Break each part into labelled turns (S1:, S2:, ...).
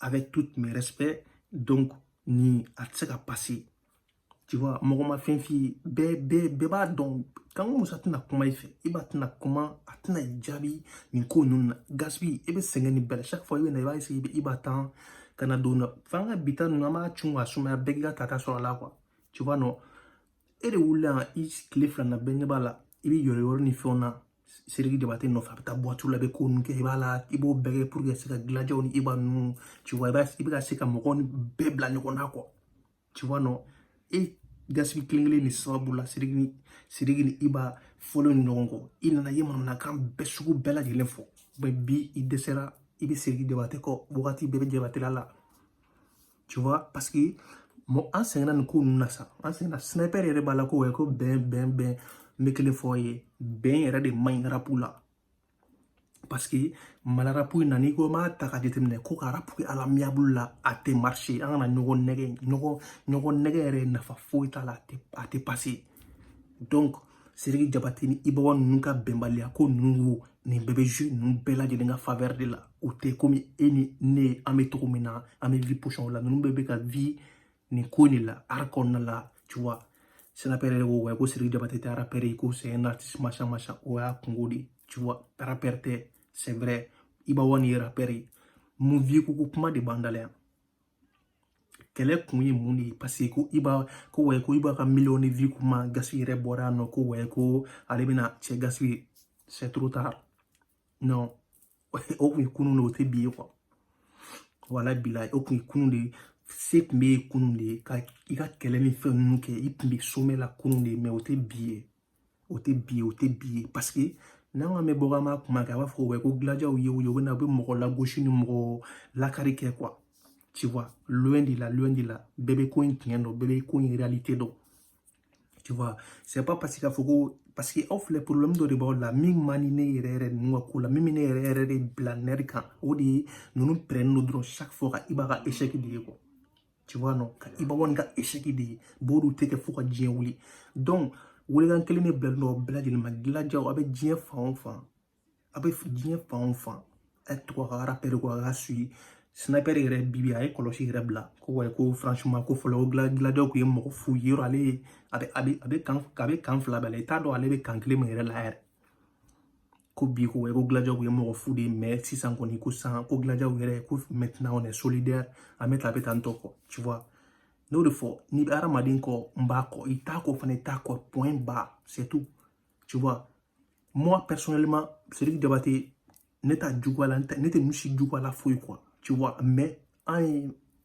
S1: avec tous mes respects donc ni a tɛ se ka pase tu vois mɔgɔ ma fɛn f'i ye bɛɛ bɛɛ bɛɛ b'a dɔn kanko musa tɛna kuma i fɛ Iba tɛna kuma a tɛna i jaabi nin ko ninnu na Gaspi i bɛ sɛgɛn nin bɛɛ la chaque fois i bɛ na i b'a essayer i b'a tan ka na don na f'an ka bita ninnu an b'a cun ka sumaya bɛɛ k'i ka tata sɔrɔ a la quoi tu vois non e de wulila yan i tile fila na bɛɛ ɲɛ b'a la i bɛ yɔrɔ yɔrɔ ni fɛnw na Siriki Jabate nɔfɛ a bɛ taa buwatiw la a bɛ ko ninnu kɛ Iba la i b'o bɛɛ kɛ pour que se ka gilajaw ni iba ninnu tu vois i b'a i bɛ ka se ka mɔgɔw ni bɛɛ bila ɲɔgɔn na quoi tu vois non e Gaspi kelen kelen nin sababu la Siriki ni Siriki ni iba fɔlen ɲɔgɔn kɔ i nana i ye manamanakan bɛɛ sugu bɛɛ lajɛlen fɔ bi i dɛsɛra i bɛ Siriki Jabate kɔ wagati bɛɛ i bɛ Jabatela tu vois parce que mɔ an sɛgɛnna nin ko ninnu na sa an sɛgɛnna sniper yɛrɛ b'a la ko wɛ ko bɛn bɛn bɛn n bɛ kelen fɔ aw ye bɛn yɛrɛ de man ɲi rapu la parce que Mali rapu in na n'i ko n b'a ta ka jateminɛ ko ka rapu kɛ à l'amiable la a tɛ marche an kana ɲɔgɔn nɛgɛn ɲɔgɔn ɲɔgɔn nɛgɛn yɛrɛ nafa foyi t'a la a tɛ a tɛ passe donc Siriki Jabate ni Iba One ninnu ka bɛnbaliya ko ninnu wo nin bɛɛ bɛ jeunes ninnu bɛɛ lajɛlen ka faveur de la u tɛ komi e ni ne an bɛ cogo min na an bɛ vie position la ninnu bɛɛ bɛ ka vivre nin ko de la art kɔnɔna la tu vois sniper yɛrɛ ko wa ko Siriki Jabate tɛ arapɛrɛ ye ko c'est un artiste machin machin o y'a kunko de ye tu vois arapɛrɛ tɛ c'est vrai Iba One ye arapɛrɛ ye mun vues ko ko kuma de b'an da la yan kɛlɛ kun ye mun de ye paseke ko Iba ko wayi ko Iba ka miliyɔn de vues kuma Gaspi yɛrɛ bɔra yan nɔ ko wayi ko ale bɛna cɛ Gaspi c'est trop tard non o kun ye kunun de o tɛ bi ye quoi wala bila o kun ye kunun de ye se kun b'i ye kunun de ye ka i ka kɛlɛ ni fɛn ninnu kɛ i kun bɛ sommet la kunun de ye mais o tɛ bi ye o tɛ bi ye o tɛ bi ye paseke n'an k'an bɛ bɔ k'an b'a kuma kɛ a b'a fɔ ko ko gilajaw ye u ye u bɛ na u bɛ mɔgɔ lagosi ni mɔgɔ lakari kɛ quoi tu vois loin de la loin de la bɛɛ bɛ ko in tiɲɛ dɔn bɛɛ bɛ ko in réalité dɔn tu vois c'est pas parce que k'a fɔ ko parce que aw filɛ problème dɔ de b'aw la min man di ne yɛrɛ yɛrɛ ninnu ka ko la min bɛ ne yɛrɛ yɛrɛ de bila nɛri kan o de ye ninnu pɛrɛnnen don dɔrɔn chaque fois ka Iba ka échec de ye quoi tu vois non ka Iba One ka échec de ye b'o dun tɛ kɛ fo ka diɲɛ wuli donc welekan kelen de bilalen don aw bɛɛ lajɛlen ma gilajaw aw bɛ diɲɛ fan o fan aw bɛ diɲɛ fan o fan a tɔgɔ ka rapɛri ko a ka suyi sniper yɛrɛ bibi a ye kɔlɔsi yɛrɛ bila ko wa ko franchement ko fɔlɔ ko gilajaw tun ye mɔgɔ fu ye yɔrɔ ale ye a bɛ a bɛ a bɛ kan a bɛ kan fila bɛɛ la i t'a dɔn ale bɛ kan kelen min yɛrɛ la yɛrɛ ko bi ko ko Gladia kun ye mɔgɔ fu de ye mais sisan kɔni ko san ko Gladia yɛrɛ ko maintenant on est solidaire an bɛ ta a bɛ tan tɔ quoi tu vois n y'o de fɔ n'i bɛ hadamaden kɔ n b'a kɔ i t'a kɔ fana i t'a kɔ point barre c'est tout tu vois moi personnellement Sidiki Diabaté ne t'a juguya la ne tɛ ninnu si juguya la foyi quoi tu vois mais an ye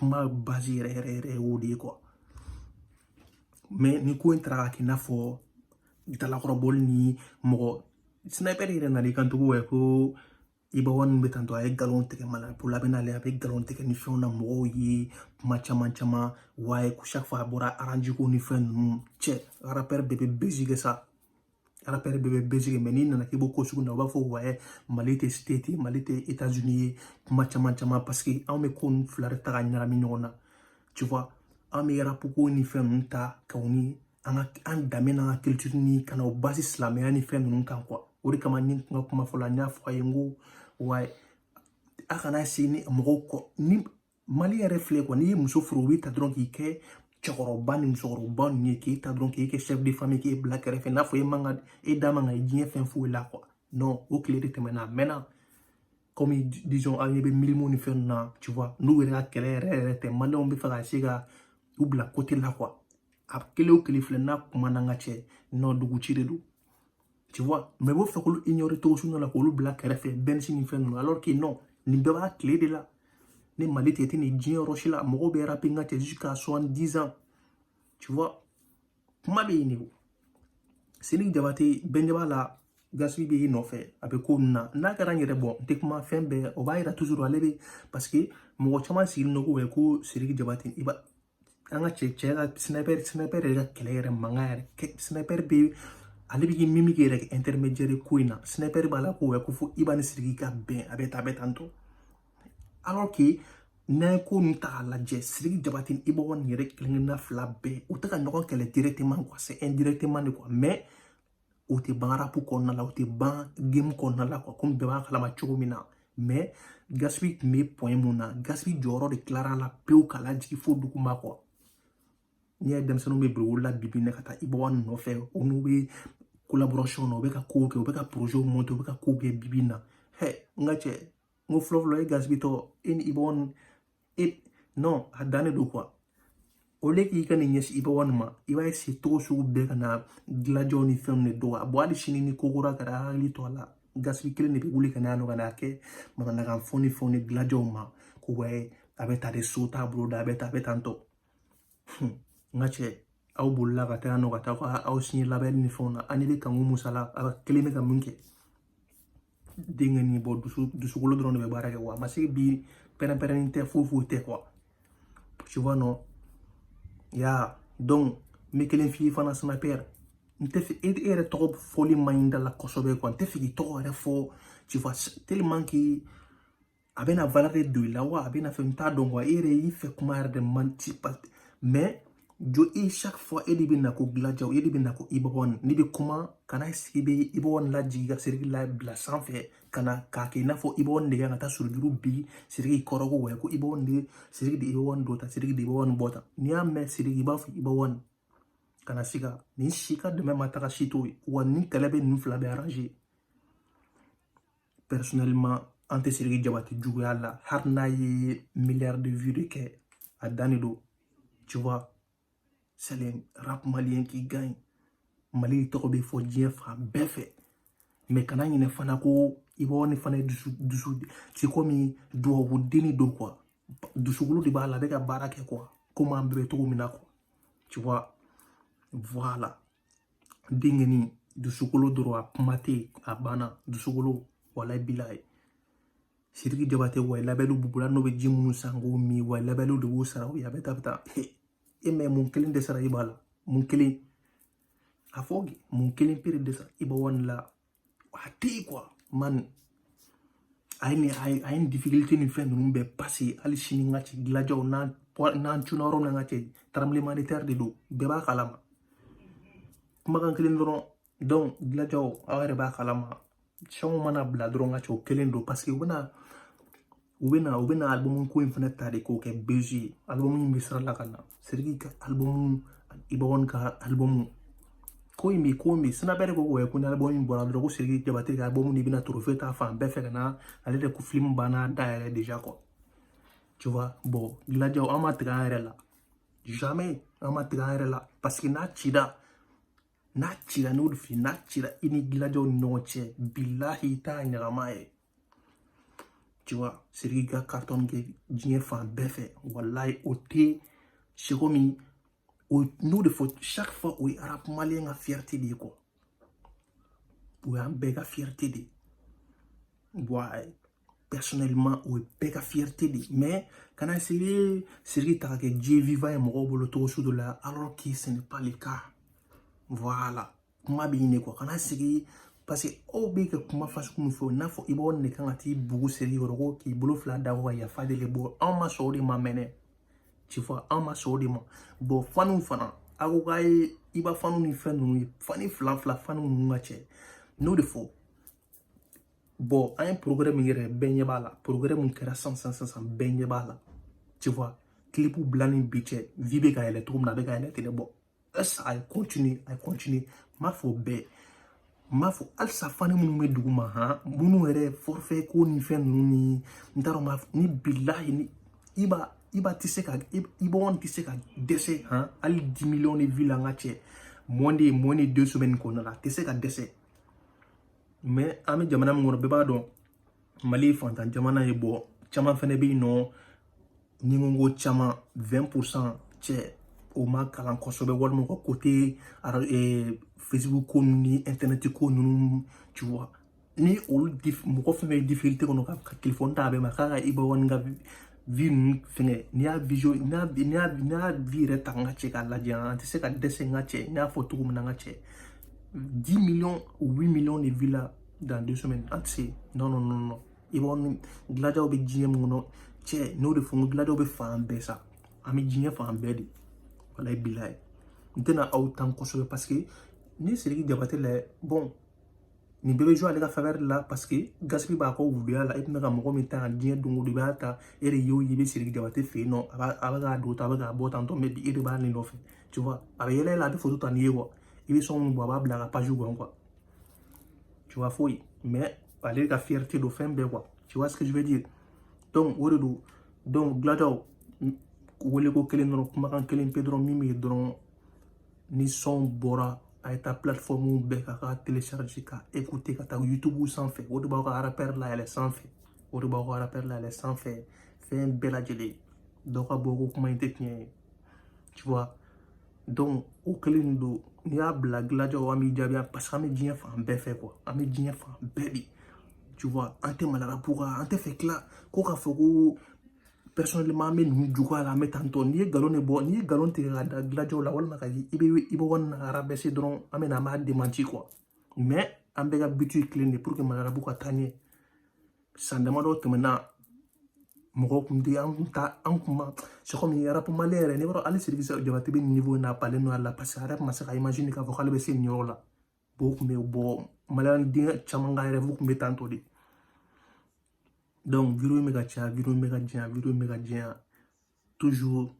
S1: n ka base yɛrɛ yɛrɛ yɛrɛ ye o de ye quoi mais ni ko in taara ka kɛ i n'a fɔ dalakɔrɔbɔli ni mɔgɔ sniper yɛrɛ nana i kan cogo ye ko Iba One ninnu bɛ tantɔ a ye nkalon tigɛ mala ko la bɛ n'ale a bɛ nkalon tigɛ ni fɛnw na mɔgɔw ye kuma caman caman wa ye ko chaque fois a bɔra arapuko ni fɛn ninnu cɛ rappeur de bɛ buzz kɛ sa rappeur bɛɛ bɛ buzz kɛ mais n'i nana k'i b'o ko sugu na u b'a fɔ wayi mali tɛ States mali tɛ États-Unis ye kuma caman caman parce que anw bɛ ko ninnu fila de ta ka ɲagami ɲɔgɔn na tu vois an bɛ arapuko ni fɛn ninnu ta ka u ni an ka an danbe n'an ka culture ni ka na o basi silamɛya ni fɛn ninnu kan quoi o de kama ne ka kuma fɔlɔ la n y'a fɔ a ye n ko wa a kana se ni mɔgɔw kɔ ni mali yɛrɛ filɛ quoi n'i ye muso furu u bɛ ta dɔrɔn k'i kɛ cɛkɔrɔba ni musokɔrɔba ninnu ye k'e ta dɔrɔn k'e kɛ chef de famille k'e bila kɛrɛfɛ n'a fɔ e man ka e da man ka ye diɲɛ fɛn foyi la quoi non o tile de tɛmɛna a mɛnna comme disons an ɲɛ bɛ Mylmo ni fɛn na tu vois ninnu yɛrɛ ka kɛlɛ yɛrɛ yɛrɛ tɛ maliyɛnw b'a fɛ ka se ka u bila côté la quoi a kelen o kelen filɛ n'a kuma n'an ka cɛ nɔ dugu ci de don tu vois mais u b'a fɛ k'olu ignorer cogo sugu la k'olu bila kɛrɛfɛ Penzy ni fɛn ninnu alors que non nin bɛɛ b'a tile de la ni mali tɛ tɛ nin diɲɛ yɔrɔ si la mɔgɔw bɛ rapi n ka cɛ jusqu'à 70 ans tu vois kuma bɛ yen de o Sidiki Diabaté bɛnjɛ b'a la Gaspi bɛ i nɔfɛ a bɛ ko ninnu na n'a kɛra n yɛrɛ bon n tɛ kuma fɛn bɛɛ o b'a yira toujours ale bɛ parce que mɔgɔ caman sigilen don ko ko Sidiki Diabaté Iba n ka n ka cɛ cɛ n ka sniper sniper ka kɛlɛ manga yɛrɛ sniper bɛ ale bɛ min min kɛ yɛrɛ intermédiaire ko in na sniper b'a la ko ouais ko fo Iba ni Sidiki ka bɛn a bɛ ta a bɛ tan tɔ alors que n'an ye ko ninnu ta k'a lajɛ Sidiki Diabaté ni Iba One yɛrɛ kelen kelenna fila bɛɛ u tɛ ka ɲɔgɔn kɛlɛ directement quoi c'est indirectement de quoi mais o tɛ ban arapu kɔnɔna la o tɛ ban game kɔnɔna la comme bɛɛ b'a kalama cogo min na mais Gaspi tun bɛ point min na Gaspi jɔyɔrɔ de tilara la pewu ka lajigin fo duguma quoi n'i y'a ye denmisɛnninw bɛ boli la bibi in na ka taa Iba One nɔfɛ olu bɛ collaboration na u bɛ ka kow kɛ u bɛ ka projet monter u bɛ ka kow kɛ bibi in na hɛ n ka cɛ n ko fɔlɔfɔlɔ e Gaspi tɔ e ni Iba One eh non a dannen don quoi au lieu k'i ka nin ɲɛsin Iba One ma i b'a essayer cogo sugu bɛɛ ka na Gladiaw ni fɛnw de dɔgɔya bon hali sini ni ko kura kɛra hakili to a la Gaspi kelen de bɛ wuli ka n'a nɔ ka n'a kɛ manamanakan fɔ ni fɛnw ni Gladiaw ma ko ouais a bɛ ta de so t'a bolo da a bɛ ta a bɛ tan tɔ n ka cɛ aw bolila ka taa nɔ ka taa ka aw signer label ni fɛnw na ani bɛ kanku musa la a kelen bɛ ka mun kɛ denkɛni bɔ dusu dusukolo dɔrɔn de bɛ baara kɛ wa a ma se bi pɛrɛnpɛrɛnni tɛ foyi foyi tɛ quoi tu vois non ya donc n bɛ kelen f'i ye fana sniper n tɛ fɛ e yɛrɛ tɔgɔ fɔli man ɲi da la kosɛbɛ quoi n tɛ fɛ k'i tɔgɔ yɛrɛ fɔ tu vois tellement que a bɛna valeur de don i la wa a bɛna fɛn ta donc wa e yɛrɛ y'i fɛ kuma yɛrɛ de man di mais jo e chaque fois e de bɛ na ko gladiaw e de bɛ na ko iba one n'i bɛ kuma kana sigi bɛ iba one lajigin ka siriki la bila sanfɛ kana k'a kɛ i n'a fɔ iba one de ka taa surujuru bi siriki kɔrɔ ko ouais ko iba one de siriki de iba one dɔ ta siriki de iba one bɔ ta n'i y'a mɛn siriki i b'a fɔ iba one kana si ka nin si ka dɛmɛ ma taga si t'o ye wa nin kɛlɛ bɛ ninnu fila bɛ personnellement an tɛ siriki jabate juguya la hali n'a ye milliard de vues de kɛ a dan de don tu vois c'est le rap malien qui gagne mali tɔgɔ bɛ fɔ diɲɛ fan bɛɛ fɛ mais kana ɲinɛ fana ko iba one fana ye dusu dusu ti komi duwawu denni don quoi dusukolo de b'a la a bɛ ka baara kɛ quoi komi an bɛɛ bɛ cogo min na quoi tu vois voilà denkɛni dusukolo dɔrɔn a kuma tɛ yen a banna dusukolo wala bilayi siriki jabate wa labelw b'u bolo n'o bɛ ji minnu san k'o min wa labelw de b'u sara u ye a bɛ taa bɛ taa e mais mun kelen de sara iba la mun kelen a fɔ mun kelen pere de sara iba one la a tɛ yen quoi man a ye nin a ye a ye nin difficulté nin fɛn ninnu bɛɛ passer hali sini n ka cɛ gladiaw n'an n'an cunna yɔrɔ min na n ka cɛ tremblement de terre de don bɛɛ b'a kalama kumakan kelen dɔrɔn donc gladiaw aw yɛrɛ b'a kalama son mana bila dɔrɔn n ka cɛ o kelen don parce que u bɛna u bɛ na u bɛ na alibumu ko in fana ta de k'o kɛ buzz ye alibumu in bɛ sira la ka na siriki ka alibumu iba one ka alibumu ko in bɛ ko in bɛ sinabɛ de ko k'o kɛ ko ni alibumu in bɔra dɔrɔn ko siriki jabate ka alibumu de bɛna trophée ta fan bɛɛ fɛ ka na ale de ko filimu banna da yɛrɛ déjà quoi tu vois bon gladiaw an ma tigɛ an yɛrɛ la jamais an ma tigɛ an yɛrɛ la parce que n'a cira n'a cira n'o de fili n'a cira i ni gladiaw ni ɲɔgɔn cɛ bilahi i t'a ɲagama ye tu vois Seriki ka carton kɛ diɲɛ fan bɛɛ fɛ walayi o tɛ c'est comme n'o de fɔ chaque fois o ye rap malien ka fierté de ye quoi o y'an bɛɛ ka fierté de ye wa personnellement o ye bɛɛ ka fierté de ye mais kana essayer Seriki ta ka kɛ dieu vivant ye mɔgɔw bolo cogo sugu dɔ la alors que ce n'est pas le cas voilà. kuma b'i ne kɔ kana sigi paseke aw bɛ ka kuma façon min fɔ n'a fɔ iba one kan ka t'i bugu seri yɔrɔ ko k'i bolo fila da kɔ ka yafa deli bɔ anw ma sɔn o de ma mɛnɛ tu vois anw ma sɔn o de ma bɔn faniw fana a ko k'a ye iba faniw ni fɛn ninnu ye fani fila fila faniw ninnu n ka cɛ n'o de fɔ bɔn an ye progrès min yɛrɛ bɛɛ ɲɛ b'a la progrès min kɛra san san san san bɛɛ ɲɛ b'a la tu vois kilipu bilani bi cɛ vue bɛ ka yɛlɛ cogo min na a bɛ ka yɛlɛ tɛlɛ bɔ Esa a ye continue a ye continue m'a fɔ bɛɛ m'a fɔ halisa fani minnu bɛ duguma han minnu yɛrɛ forfait ko ni fɛn ninnu ni n t'a dɔn m'a fɔ ni bilahi ni iba iba tɛ se ka iba one tɛ se ka dɛsɛ han hali dix millions de vues la n ka cɛ moins de ye moins de deux semaines kɔnɔna la a tɛ se ka dɛsɛ mais an bɛ jamana min kɔnɔ bɛɛ b'a dɔn mali fantan jamana ye bon caman fɛnɛ bɛ yen nɔ ni n ko caman 20 pourcent cɛ o ma kalan kosɛbɛ walima u ka côté eh, facebook ko ni internet ko ninnu tu vois ni olu mɔgɔ fɛn fɛn ye difficulté kɔnɔ ka telefɔni ta a bɛɛ ma k'a ka iba one ka vue ninnu fɛngɛ n'i y'a visio n'i y'a n'i y'a n'i y'a vue yɛrɛ ta n ka cɛ k'a lajɛ an tɛ se ka dɛsɛ n ka cɛ n y'a fɔ cogo min na n ka cɛ dix millions huit millions de vues la dans deux semaines an tɛ se non non non non i b'a dɔn gilajaw bɛ diɲɛ min kɔnɔ cɛ n'o de fɔ n ko gilajaw bɛ fan bɛɛ sa an bɛ diɲɛ fan bɛɛ de walayi bilayi n tɛna aw tan kosɛbɛ parce que ni siriki jabate lajɛ bɔn nin bɛɛ bɛ jouer ale ka faveur de la parce que gaspi b'a ka wuluya la e tun bɛ ka mɔgɔ min ta ka tiɲɛ don o don i b'a ta e de y'o ye i bɛ siriki jabate fɛ yen nɔ a b'a a bɛ k'a don ta a bɛ k'a bɔ tantɔ mais bi e de b'a nin nɔfɛ tu vois a bɛ yɛlɛ yɛlɛ a bɛ foto ta n'i ye quoi i bɛ sɔn min bɔ a b'a bila a ka page kɔnɔ quoi tu vois foyi mais ale ka fierté don fɛn bɛɛ quoi tu vois ce que je veux dire donc o de don donc gilajaw wele ko kelen dɔrɔn kumakan kelen pe dɔrɔn min bɛ yen dɔrɔn ni sɔn bɔra a ye taa plateforme bɛɛ kan ka télécharger ka écouter ka taa youtube sanfɛ o de b'aw ka rappeur layɛlɛ sanfɛ o de b'aw ka rappeur layɛlɛ sanfɛ fɛn bɛɛ lajɛlen dɔ ka bɔ ko kuma in tɛ tiɲɛ ye tu vois donc o kelen don n'i y'a bila gilajaw an b'i jaabi parce que an bɛ diɲɛ fan bɛɛ fɛ quoi an bɛ diɲɛ fan bɛɛ de tu vois an tɛ mali rap kan an tɛ fɛ tila ko k'a fɔ ko personnellement an bɛ ninnu juguya la an bɛ tantɔ n'i ye nkalon de bɔ n'i ye nkalon tigɛ ka da gilajaw la walima ka iba iba one rabaisser dɔrɔn an bɛ na an b'a démenti quoi mais an bɛɛ ka but ye kelen de pour que mali rap ka taa ɲɛ san damadɔ tɛmɛna mɔgɔ kun tɛ an kun ta an kun ma c'est comme rap malien yɛrɛ ne b'a dɔn hali siriki jabate bɛ niveau in na a balen don a la parce que a yɛrɛ tun ma se ka imaginer k'a fɔ k'ale bɛ se nin yɔrɔ la bon o kun bɛ bɔ maliyɛn denkɛ caman ka rêve kun bɛ tantɔ de donc video bɛ ka caya video bɛ ka janya video bɛ ka janya toujours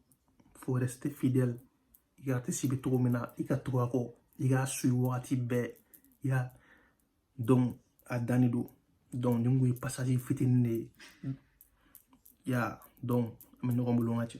S1: faut rester fidèle i artiste bɛ cogo min na i ka tugu a kɔ i k'a suivi wagati bɛɛ i y'a dɔn a dannen don donc nin kun ye pasazi fitinin de ye i y'a dɔn an bɛ ɲɔgɔn bolo n ka cɛ